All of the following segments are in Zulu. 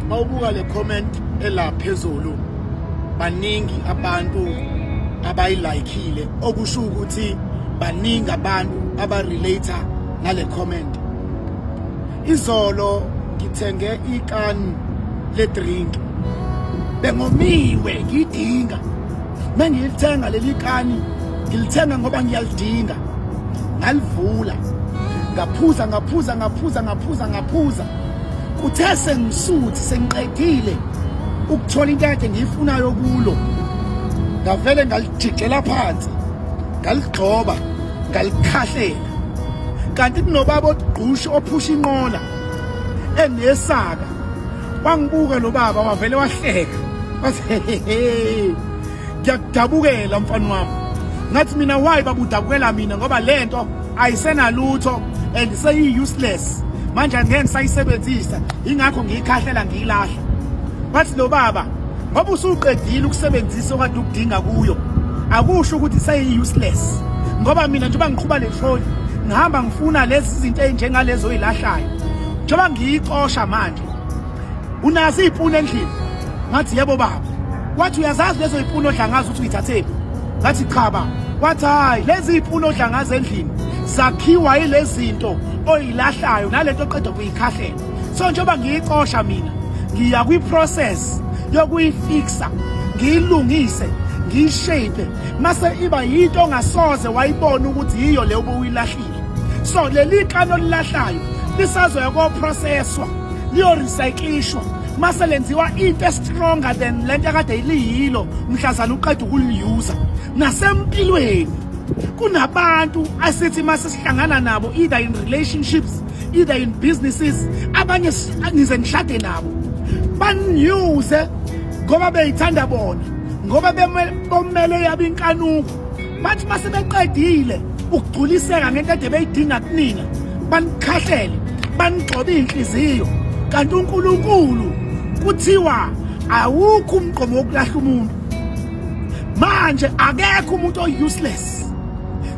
Mawubuka le comment ela phezulu baningi abantu abayilikile okusho ukuthi baningi abantu abarelater nale comment izolo ngithenge ikani le drink bengomiwe ngidinga mengilithenga leli kani ngilithenga ngoba ngiyalidinga ngalivula ngaphuza ngaphuza ngaphuza ngaphuza ngaphuza Uthe sengisuthi sengiqedile ukuthola into yakhe ngiyifunayo kulo ngavele ngalijijela phansi ngaligxoba ngalikhahlela kanti kunobaba ogqusha ophusha inqola enesaka wangibuka lo baba wavele wahleka wathi hehehe ngiyakudabukela mfana wami ngathi mina why babudabukela mina ngoba lento ayisenalutho and seyi useless manje angeke ngisayisebenzisa ingakho ngiyikhahlela ngiyilahla bathi lo baba ngoba usuqedile ukusebenzisa okade ukudinga kuyo akusho ukuthi seyi useless ngoba mina njengoba ngiqhuba le trolley ngihamba ngifuna lezi zinto ezinjengalezo oyilahlayo njengoba ngiyicosha manje unazo iy'puni endlini ngathi yebo baba wathi uyazazi lezo y'puni odlangazi ukuthi uyithathephi ngathi cha baba wathi hhayi lezi y'puni odlangazi endlini zakhiwa yilezinto oyilahlayo nalento oqeda kuyikhahlela so njengoba ngiyicosha mina ngiya kwi-process yokuyifixa ngiyilungise ngiyishape mase iba yinto ongasoze wayibona ukuthi yiyo le obuyilahlile so leli kani olilahlayo lisazoya koprocesswa liyorecyclishwa mase lenziwa into estronger than lento akade iliyilo mhlazana uqeda ukuliuser nasempilweni kunabantu asithi mase sihlangana nabo either in relationships either in businesses abanye ngize ngishade nabo baniuse ngoba beyithanda bona ngoba bemele yabe inkanuko bathi uma sebeqedile ukugculiseka ngento ede beyidinga kunina banikhahlele banigxobe iy'nhliziyo kanti unkulunkulu kuthiwa awukho umqomo wokulahla umuntu manje akekho umuntu o-useless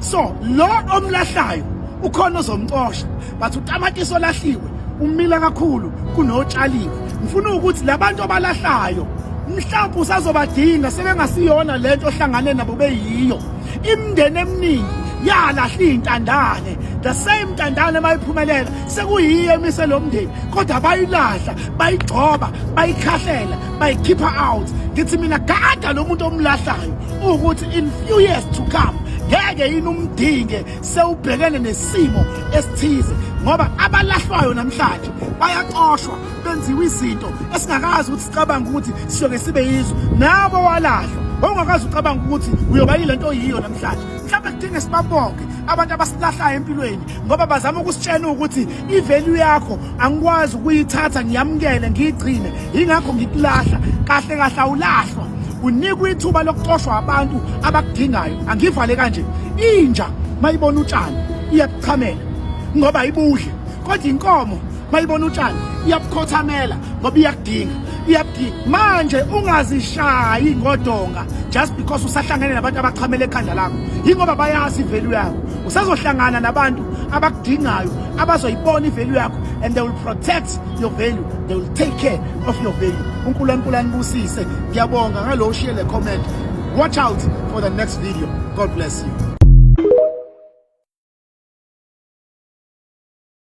so lo omlahlayo ukhona ozomcosha but utamatisi olahliwe umile kakhulu kunotshaliwe ngifuna ukuthi labantu abalahlayo mhlawumbe usazobadinga sebengasiyona lento ohlangane nabo beyiyo imndeni eminingi yalahla iy'ntandane the same ntandane mayiphumelela sekuyiyo emise lo mndeni kodwa bayilahla bayigxoba bayikhahlela bayikhipha out ngithi mina gada lo muntu omlahlayo ukuthi in few years to come ngeke yini umdinge sewubhekene nesimo esithize ngoba abalahlwayo namhlanje bayaxoshwa benziwa izinto esingakazi ukuthi sicabanga ukuthi siyoke sibe yizwe nabo walahlwa ongakazi ucabanga ukuthi uyoba yile nto yiyo namhlanje mhlawumbe kudinge sibabonke abantu abasilahlayo empilweni ngoba bazama ukusitshena ukuthi ivalue yakho angikwazi ukuyithatha ngiyamukele ngiyigcine yingakho ngikulahla kahle kahle awulahlwa unikwa ithuba lokuxoshwa abantu abakudingayo angivale kanje inja mayibona utshani iyakuchamela ngoba ibudle kodwa inkomo mayibona utshani iyabukhothamela ngoba iyakudinga iyakudinga manje ungazishayi ngodonga just because usahlangene nabantu abachamela ekhanda lakho yingoba bayazi ivalue yakho usazohlangana nabantu abakudingayo abazoyibona ivalue yakho and they will protect your value they will take care of your value unkulunkulu anibusise ngiyabonga ngalowo share le comment watch out for the next video god bless you